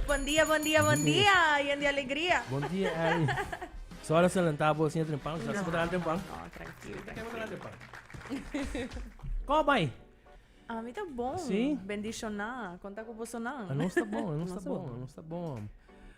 Bon dia, bon dia, bon dia, yen di alegria. Bon dia, Ari. So alas na lanta bo siña tren pan, sa si bo ta tren pan. No, tranquilo, tranquilo. Ko bai? A mi ta bon. Sí? Bendicioná. Konta ku boso nan. Anos ta bon, anos ta bon, anos ta bon.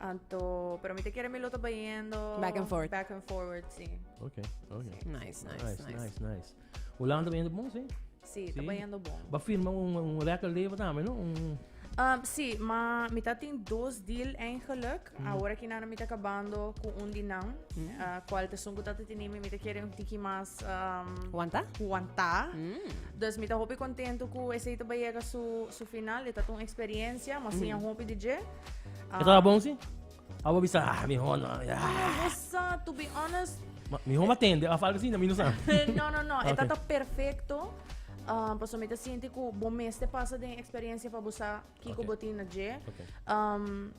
Anto, pero mi te quiere mi lo está yendo back and forth. Back and forward, sí. Ok, ok. Sí. Nice, nice, nice, nice. nice, nice. Holanda está yendo bon, sí. Sí, está sí. yendo bon. Va firma un, un record label también, ¿no? Un... Um, sí, ma mi ta tin dos deal eigenlijk. Mm. Ahora que nana mi ta acabando con un dinam. Mm. Uh, cual te son gutata tini mi te quiere un tiki más. Um, Wanta? Wanta. Mm. Dus mi ta hopi contento cu ese ita bayega su, su final. Eta tun experiencia, mas mm. sin hopi DJ. E taba bon si? Abo bisa, ah, mi hon, ah, ya. Sa, to be honest, Ma, mi hon atende, af algo así, na mi no sa. no, no, no. E Ok. tata perfecto. Um, paso mi te siente ku bo mes te pasa den experiencia pa bo sa kiko Ok. bo tin na dje. Ok. Um,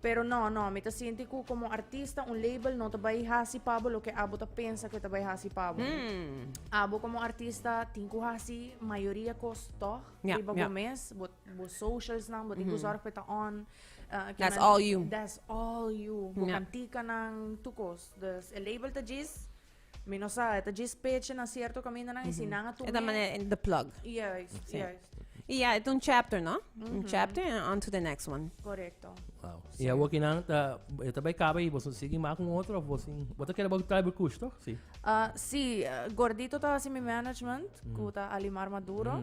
pero no, no. Mi te siente ku como artista un label no ta bai hasi pa bo loke abo ta pensa ke ta bai hasi pa bo. Hmm. Abo como artista tin ku hasi mayoría kos tog Ja, riba ja. bo mes. Bo Bo socialsnan, bo tin ku zòrg pa e ta on. That's all you. That's all you. Bo kantikanan, tur kos. Dus e label ta djis, mi no sa, e ta djis pechi na sierto kamindanan i si nan a tumbe. E ta manera the plug. Yes, yes. I ya, e ta un chapter, no? Un chapter and on to the next one. Correcto. Wow. I ya wokinan ta, e ta bai kaba i bo sin sigui mak un otro of bo sin, bo ta kere bo trai bo kush, toch? Si. Si, Gordito ta hasi mi management, ku ta Alimar Maduro.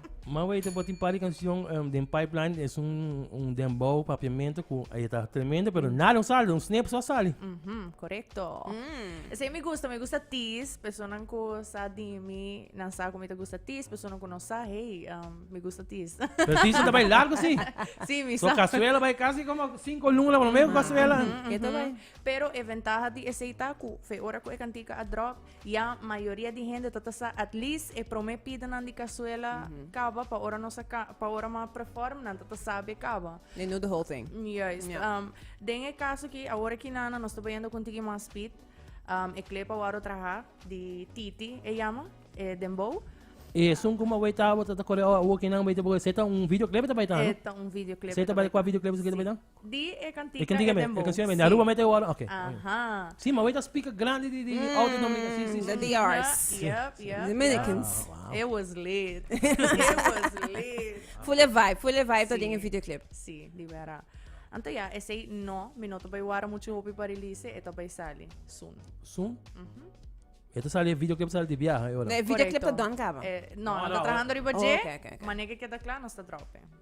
Ma wey te por tin par di canción em, den pipeline es un, un dembow papiamento cu ahí está tremendo, pero nada no sale, un snip solo sale. Mhm, correcto. Mm. Ese me gusta, me gusta tis. Personas que sa di mi, nan sa como me gusta tis. Personas que no sa, hey, um, me gusta tis. Pero sí, se te vai largo, sí. sí, mi So sa. cazuela vai casi como cinco luna, por lo menos cazuela. Eto bai. Pero e ventaha di ese ita cu fe ora cu e cantica a drop, Ya mayoria di hende ta ta sa at least e prome pidenan di cazuela caba pa ora nos a ca- pa ora ma preformnan ta ta sabe caba. They knew the whole thing. Juist. Ja. Um, den e caso aki, awor aki nana, nos ta bayendo con tiki mas speed. Um, e clepa wou traha di Titi, e llama, e dembow. E esun cu mawey tabata ta corre awo awo kinan bay ta boga. Seta un videoclip ta bay ta, no? E ta un videoclip. Seta bay cua videoclip su que ta bay ta? Di e cantica e dembow. The DRs. It was lit. It was lit. Full e vibe, full e vibe ta den e video clip. Si, di wèra. Anto ya, esei no, mi no ta bai wòrda muchu hopi pa release e, e ta bai sali soon. Soon? E ta sali, e video clip ta sali di biaha e ora? No, e video clip ta done caba. No, no ta trahando riba dje, manera ke keda cla nos ta drop e.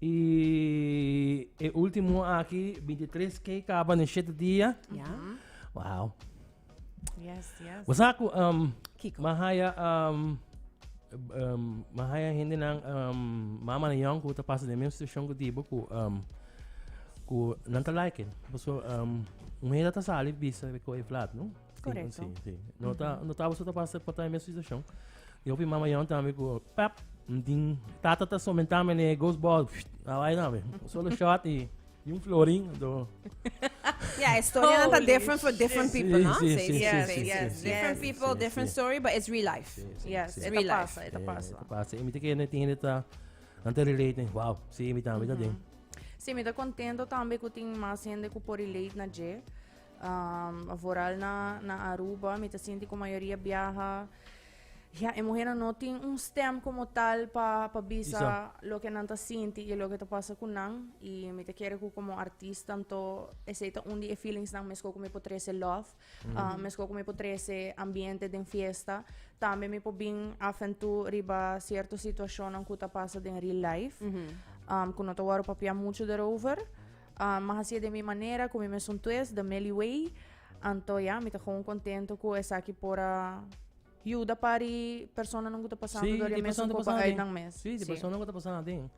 Y e último aquí, 23K, caba en 7 días. Ya. Wow. Yes, yes. Vos sabes que um, Kiko. Mahaya, um, um, Mahaya gente nan, um, mama na yang, que pasa de mesma situação que digo, que, um, que não tá like. Vos, um, um hera tá sali, bisa, que é flat, não? Correcto. Sí, sí, sí. No, ta, no tava sota passa pa também situação. Eu vi mama yon também com pap, din tata ta somentar me ne ghost ball. Ah, vai também. Solo shot e e um florim do Yeah, a story oh, not different for different shit. people, no? Sí, sí, sí, yes, sí, yes, sí, different yes, people, sí, different sí. story, but it's real life. Sí, sí, yes, sí. real life. Pasa, ita pasa. Ita pasa. E mi te kende tiene ta ante relate, wow. Sí, mi tambe mm -hmm. ta den. Sí, mi ta contento tambe ku tin mas hende ku por relate na je. Um, vooral na, na Aruba, mi ta sinti ku mayoria biaha. Ja, e muhernan no tin un stem komo tal pa, pa bisa Bisa. loke nan ta sinti i loke ta pasa ku nan. I mi ta kere ku komo artist tanto esei ta un di e feelingsnan meskos ku mi por trese love, ah, meskos ku mi por trese ambiente den fiesta, tambe mi por bin af en tu riba sierto situashonnan ku ta pasa den real life, um, ku no ta wòrdu papia muchu derover. Uh, ma hasié den mi manera, ku mi mesun tues, the Melly Way. Anto ya, mi ta gewoon kontentu ku esaki por a yuda pari personanan ku ta pasandu Sí, dor di e mesun persona ku ta pa pasando den. uitnan mes. Sí, di Sí. persona ku ta pasando den.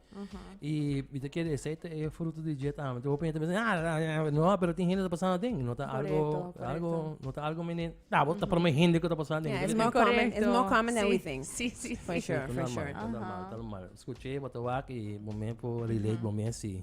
I mi ta kere esei ta e fruto di jet amen. Hopi henter bisa, ah, ah, ah, ah, no, pero tin hende ta pasando den. No ta algo, Correcto, correcto. algo, no ta algo menen. Ah, bo ta prome hende ku ta pasando den. Yeah, it's Correcto. more common. It's Correcto. more common than Sí, we think. sí, sí, For sí. sure, Tan for normal, sure. tan normal, tan normal. Skuché, bo ta wak i bo men por relate, bo men si.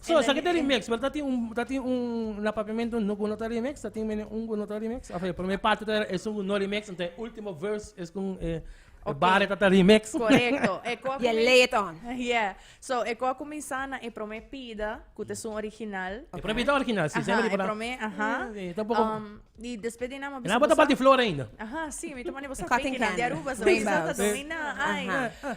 So esaki ta remix, pero ta tin un ta tin un na papiamento no ku no ta remix, ta tin mene un ku no ta remix. Of e prome parti ta e su no remix, enta e ultimo verse es kon e bare ta ta remix. Korekto. E ku a Dia kumin- lay it on. Yeah. So e ku a kuminsá na e prome pida, ku ta esun original. E prome pida ta original, si, Aha, e prome, aha. E ta un poko. Um, i despues di nan mi a E bisa na bota bosa- balti flor ainda. Aha, sí, mi ta manda bosa Cotton fake nan di candy, Aruba, so rainbows. mi sa ta dominá, ai. Aha.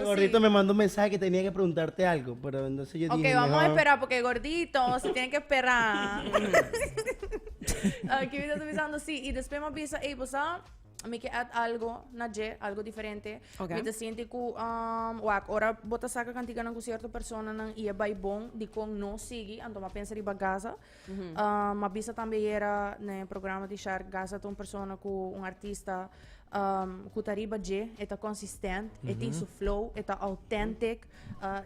E gordito me manda un mensahe ke tenia ke preguntarte algo pero entonces yo dije mehor. Ok, vamos a espera porque e gordito se tiene ke espera. Kibi ta bisando si y despues mi a bisa ey bo sa mi ke add algo na dje algo diferente mi ta sinti ku wak ora bo ta saca cantikanan ku cierto personanan y e bay bon dikon no sigui anto mi a pensa riba gasa. M'a bisa tambe ayera na e programa di Shark Gaza ta un persona ku un artista ku ta riba dje, e ta konsistent, e tin su flow, e ta authentic,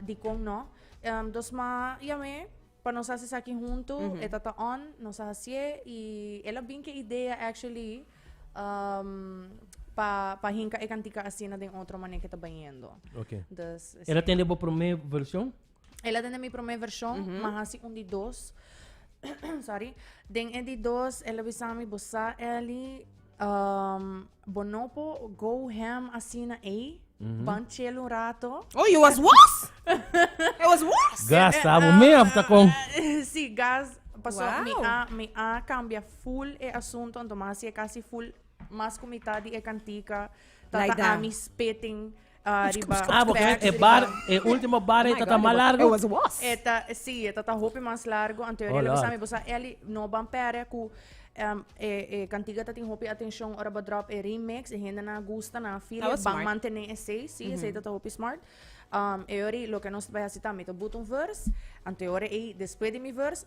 dikon no. Entos m'a yam'é pa nos hasi esaki huntu, e ta ta on, nos a hasié i el a bin ku e idea actually pa pa hinka e kantika asina den otro manera ku e ta bañendo. Okay. Dus esei. El a tende bo promé vershon? Ela den mi prome version, mm -hmm. ma hasi un di dos. Sorry. Den e di dos, ela bisami bosa Eli. Um, bonopo go ham asina ei. Mm -hmm. Banchel un rato. Oh, you was worse? It was worse? Gas, abo me afta con. Si, gas. Paso, wow. mi a, mi a cambia full e asunto, entonces casi full, mas comitad di e cantica, tata like ami spitting. Riba Ah, porque ven, e bar, e último bar ahí está más largo. was was. Eta, sí, eta ta hopi mas largo. En teoría, Oh, lo que Lord. sabe, bosa Ellie no ban pere cu em, e, e cantiga ta tin hopi atencion ora ba drop e remix. E hende na gusta, na feel, That was ban smart. mantene esei. Sí, esei ta ta hopi smart. Um, e ori, lo que nos ta bai haci tambe, ta buta un verse. En teoría, ey, después di mi verse,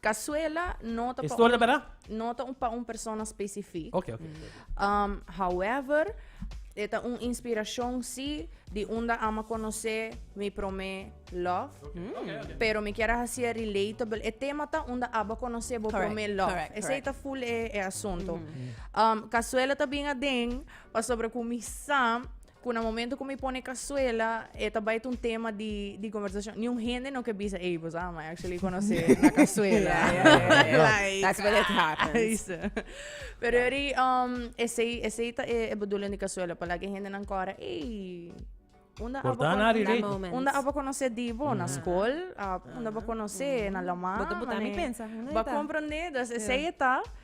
Cazuela no ta Historia pa un, bera? no ta un pa un persona specific. Ok, ok. Um, however, e ta un inspiracion si di unda ama conoce mi prome love. Mm. Pero mi kier a hacia relatable. E tema ta unda aba conoce bo correct, prome love. Correct, Ese correct. ta full e, e asunto. Mm -hmm. um, Cazuela ta bien aden, pasobra cu mi sa Cu na momento cu mi pone cazuela, e ta bai ta un tema di, di conversacion. Ni un hende no ke bisa, ey, boso ama actually conoce na cazuela. like, That's what it happens. Ay, sa. Pero yo di, um, esey, esey ta e, e bedoeling di cazuela, pa laki e hendenan cora, ey, unda abo Cortana cono- ari, That Rick. moment. Unda abo conoce dibo? Na school? Ah, unda abo conoce? Na lama? Bo ta buta mi Mane- pensa. Unda Ba e ta? comprende? Dus esey e ta.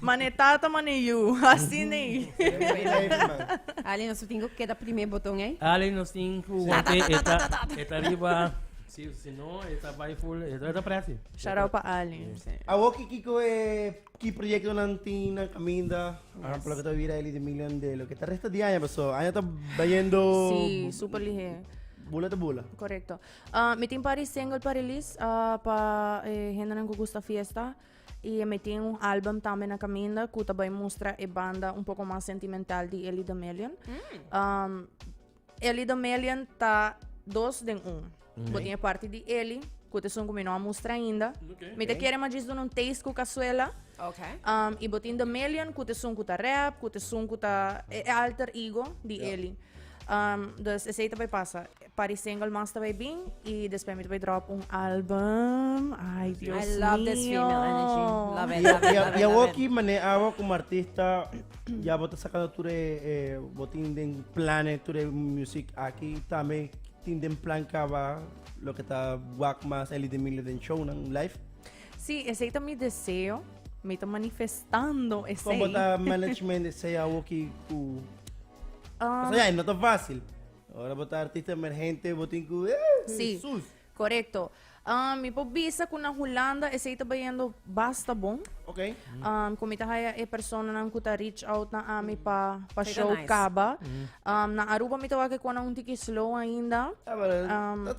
Mane e tata mane e yu, asina ei. Ali nos tin ku keda prime boton ei. Ali nos tin ku want'e e ta e ta riba si si no e ta bai ful e ta presi. Shout out pa Ali. Awo ki kiko e ki proyekto nan tin nan kaminda ahan por lo ke ta bira Ellie de Million de lo ke ta resta di aña paso aña ta bayendo Si, super lihé. bula ta bula. Korekto. Mi tin pari single pa release pa e hendenan ku gusta fiesta. Y mi tin un album tambe na caminda cu ta bay mustra e banda un poco mas sentimental di Ellie Domelion. Mm. Um, Ellie Domelion ta dos den un. Mm. Bo tiene parte di Ellie, cu te son cu mi no a mustra ainda. Okay. Mi te okay. quiere majis doen un taste cu cazuela. Okay. Um, y bo tiene Domelion, cu te son cu ta rap, cu te son cu ta e, e alter ego di yeah. Ellie. Um, dus ese te bay pasa. Pa di single Mas Ta Bay Bin y despues mi ta bay drop un album. Ay Dios I love this mío. female energy. Love it, love it, love it, Y awo love aki it. mané awo como artista ya bo ta sacando tur e e bo tin den plannen tur e music aki tambe tin den plan caba loke ta wak mas Ellie Demilio den shownan live? Sí, esey ta mi deseo. Mi ta manifestando esey. Como ta management esey awoki cu Ah, pasobra ya e no ta fácil. Ora bo ta artista emergente bo tin cu eh Sí, Jesus. correcto. Um, mi por bisa cu na Hulanda esey ta bayendo basta bon. Ok. Um, cu mi ta haya e personanan cu ta reach out na ami pa, pa Esey ta show nice. caba. Um, na Aruba mi ta wak e conan un tiki slow ainda. Ah, pero Um, dat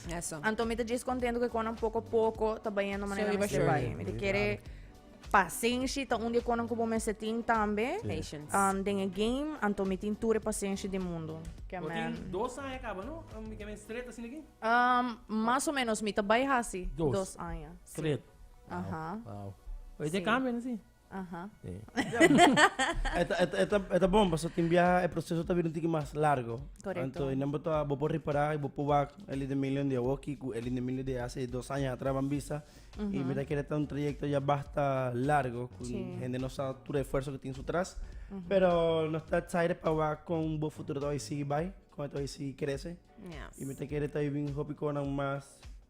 Eso. Anto mi ta djes contento que conan poco poco ta bayendo manera so, mester bay. Mi te quiere pasenshi ta un dia conan como me setin tambe. Patience. Um, den e game, anto mi tin ture pasenshi de mundo. Que man. Tin dos años acaba, no? Um, mi que me straight así aquí? Um, más o menos, mi ta bay hasi. Dos. Dos años. Straight. Ajá. Wow. Wow. Oye, sí. te cambian, sí. Aha. Eta bon, paso tin biaha e proceso ta bira un tiki mas largo. Correcto. Anto e nan bo ta, bo por repara y bo por wak Ellie D'Amelio di awoki cu Ellie D'Amelio di hace dos aña atras ban bisa. Y mi ta kere ta un trayecto ya basta largo, cu hende no sa tur e esfuerzo cu tin su tras. Pero nos ta excited pa wak con bo futuro ta bay sigui bay, con e ta bay sigui crece. Y mi ta kere ta wibi un hopi conan mas.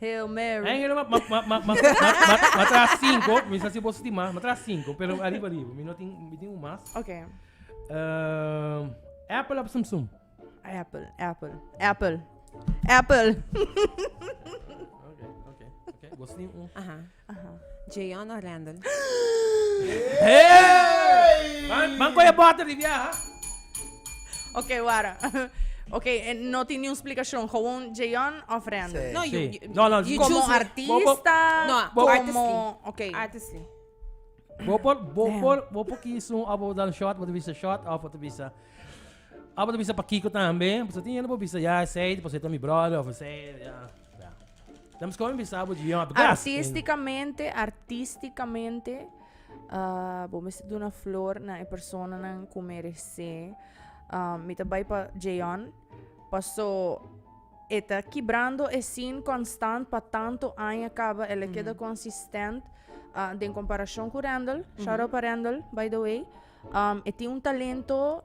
Hail Mary. Hail Mary, ma, ma, ma, ma, ma, tra cinco, mi sa si boso tin mas, ma tra cinco, pero arriba, arriba, mi no tin, mi tin un mas. Ok. Uh, apple of Samsung. Apple, apple, apple, apple. ok, ok, ok. Boso tin un. Aha. Jeyon of Randall? Man coge bota di viaja. Ok, wara. Ok, eh, no tin niun splikashon. Gewoon Jeyon of Randall? Sí. No, you, Sí. you, No, no, you Como choose me. artista, No, como... artistly. Ok. Artistly. Bo por, bo por, bo por kies un, of bo dan shot, bo te bisa shot, of bo te bisa... Of bo te bisa pa Kiko tambe. So tin yende bo bisa, ja, zij zei, po zei ta mi brother, of zei, ja. Artisticamente, artisticamente, ah, bo mester duna flor na e personanan cu merece. Ah, mi ta bay pa Jayon, paso e ta kibrando e sin constant pa tanto aña caba, el a keda consistent, ah, den comparacion cu Randall, shout-out pa Randall, by the way, um, e tin un talento.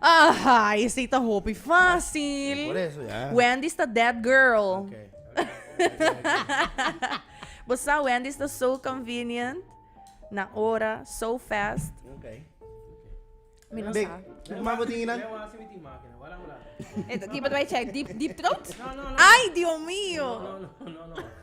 Ahaa, esei ta hopi fásil. Por eso, ya. Wendy's ta that girl. Okay. Bo sa, Wendy's ta so convenient, na ora, so fast. Okay. Mi no Big, sa. hopi mas bo tin hinan? Lei wan si mi tin mákina. Wala hola. Kiba ta bai chèk? Deep, deep throat? No, no, no. Ay, Dios mío! No, no, no, no.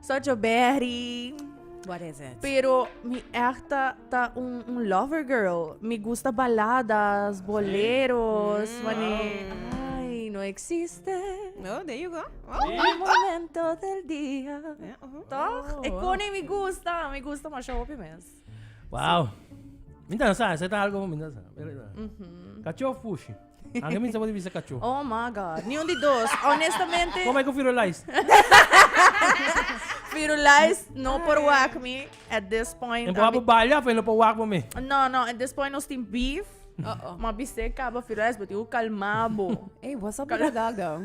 Such a berry. What is it? Pero mi echt ta, ta un, un lover girl. Mi gusta baladas, boleros. Mm. Wanneer... Ay, no existe. Oh, there you go. Oh. El momento del día. Yeah, uh-huh. Toch? Oh, Ik wow. kon en mi gusta. Mi gusta maar show op je mens. Wow. Minta sa, zet algo minta sa. Cachorro fushi. Anke mi sa bo di bisa kachó. Oh my god. Niun di dos. Honestamente. Como que Firulais? Firulais no por wak mi at this point. En por balla fe no por wak bo mi. No, no, at this point no stin beef. Uh oh. Ma biste kaba Firulais, but you kalmabo. Hey, what's up with that dog though?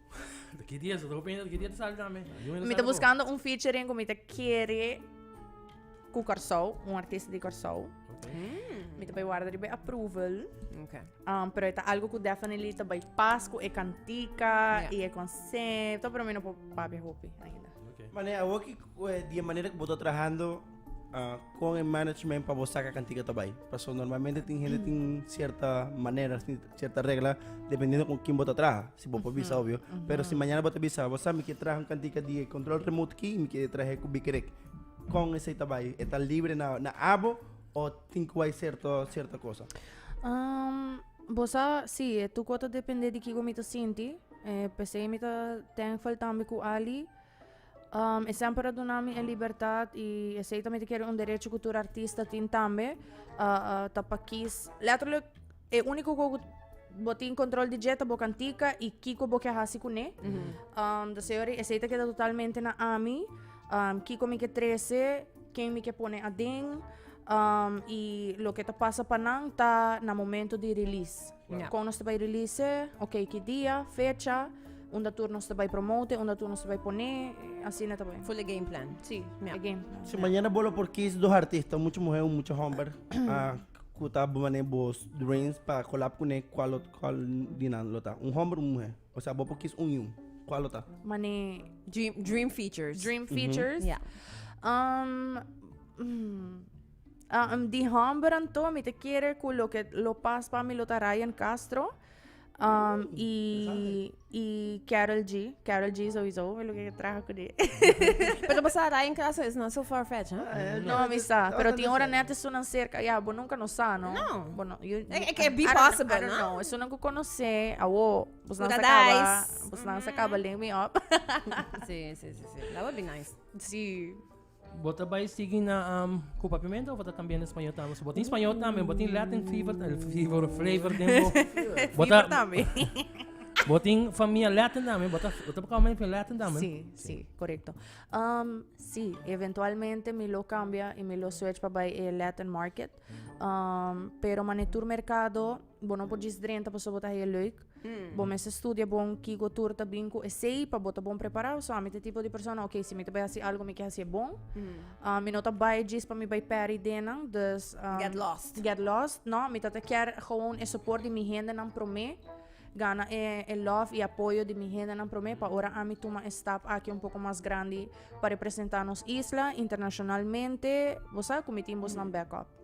Hasta ki dia, so pensa ki dia ta sali tambe. Mi ta buscando un featuring cu mi ta kere cu Corsou, un artista di Corsou. Mm. Mi ta bai warda riba approval. Okay. Um, pero eta algo cu definitely ta bai pas cu e cantica yeah. y e concepto, pero mi no po papi hopi ainda. Okay. Mane, a woki, eh, di manera que boto trabajando uh, ah, con el management para vos sacar cantica também. Porque normalmente tem gente tem certa maneira assim, cierta regla dependiendo con quién bota traha si bo por bisa obvio pero si mañana bota bisa bo sa mi quiere traha un cantica di control remote ki mi quiere traha cu bikerek con esey ta bay e ta libre na na abo o tin cu bay cierto cierto cosa um, bo sa si e tu cuota depende di kico mi ta sinti eh, pesey mi ta thankful tambe cu Ali Um, e semper a duna mi e libertad y esei también quiere un derecho que tur artista tin también. Uh, uh, ta pa kies. Letterlijk, e único que bo tin control di jeta bo cantica y kiko bo ke hasi kune. Mm -hmm. um, dus seori esei ta queda totalmente na ami. Um, kiko mi ke trece, ken mi ke pone aden. Um, y lo que ta pasa pa nan ta na momento di release. Kon nos ta bai release, ok ki dia, fecha, unda tur nos ta bai promote, unda tur nos ta bai pone, asina ta bai. Ful e game plan. Sí, e game plan. Si mañana bo lo por kis dos artista, mucha muhé o mucha homber, ku ta bo manera bo dreams pa kolab kuné, kual lo, kual di nan lo ta? Un homber o un muhé? O sea bo por kis un i un, kual lo ta? Mane. Dream, dream features. Dream features. Ya. Um, di homber anto, mi te kere ku lo ke lo pas pa mi lo ta Ryan Castro. Um, i, i Carol G. Carol G sowieso, mi lo ke traha ku di. Pero basa Ryan Castro is not so far fetched, huh? Eh, No, mi sa. no, Pero no, tin no ora sé. net e sunan cerca. Ya, bo nunca no sa, no? No. Bo no, you, Eh, eh, can be I don't- possible, I don't no? know. E sunan ku konosé, awo, bos nan sa Pura kaba, dice. bos nan sa kaba link me up. Sí, sí, sí, sí. That would be nice. Sí. Bo ta bai sigui na um, cu papiamento of ta también en español también? So, bo tin español también, bo tin Latin fever, el fever, flavor den bo. Bo ta, también. bo tin familia Latin también, bo ta, bo ta coming from Latin también? Sí, sí, correcto. Um, sí, eventualmente mi lo cambia y mi lo switch pa bai el Latin market. Um, pero manetur mercado Bo no por djis drenta paso bo ta haya leuk. Mm. Bo mester studia bon kico tur ta bin cu esey pa bo ta bon preparado. So ami te tipo di persona, ok, si mi ta bay haci algo, mi ke haci e bon. Mm. Ah, mi no ta bay djis pa mi bay peri denan, dus... Um, get lost. Get lost, no. Mi ta ta kier gewoon e support di mi hende nan prome. Gana e, e love y apoyo di mi hende nan prome pa ora ami tuma e stap aki un poco mas grandi pa representa nos isla internacionalmente. Bo sa cu mi tin bos nan backup.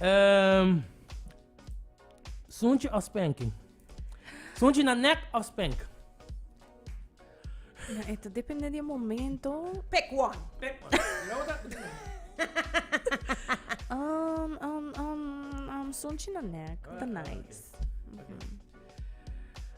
Ehm, Sunchi of spanking? Sunchi na nek of spank? Na eto depende di momento. Pick one. Pick one. um, um, um, um, sunchi na nek, the night.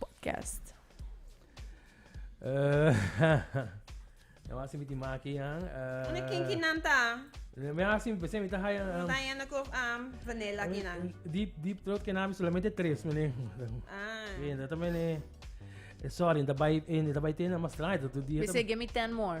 Podcast. Na wasi mi ti maki yan. Una kinki nan ta. Mi asi mi pese mi ta haya. Um, ta yana ko um, vanilla ki nan. Deep deep throat ke nami solamente tres mene. Ah. Bien, dat mene. Eh, sorry, in the bite, in the bite, na mas lang, dat doe die. Pese, give me ten more.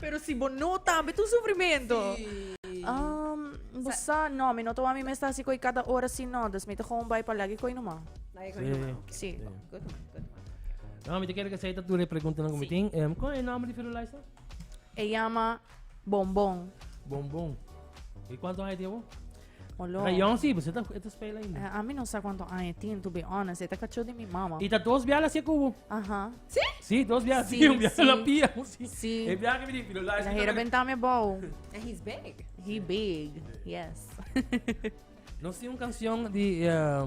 Pero si bo no tambe tu sufrimento. Um, bo sa, no, mi no ta wami mes ta hasi koi kada ora si no, dus mi ta gewoon bai pa lagi koi no man. Lagi koi no man. Si. Good man, good man. No, mi te kere ke sa ta tu le pregunta na komitin. Um, kon e nombre di Firulais na? E llama Bombon. Bombon. E cuánto hay de vos? Olo. Ga yon si, bese ta e ta spela ainda. Eh, ami no sa cuanto aña e tin, to be honest. E ta cachó di mi mama. I ta dos biaha la sia kubo. Aha. Sí? Sí, dos biaha. Sí, Sí, un biaha sí. la pia. un sí. Sí. E biaha ki mi di, pero la es La mi hera toca- bentame bou. And he's big. He big. Yes. No si un canción di eh,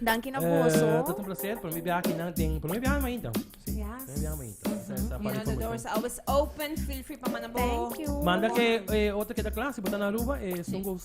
Danki na boso. Uh, tot un placer. Por mi biaha kinan den... Por mi biaha mi mainta. Sí. Yes. Por mi biaha mainta. Mm-hmm. You know, the doors are always open. Feel free pa manda bo. Thank you. Manda ke eh, otro ke da clase, botana Aruba, eh, sungo, yeah.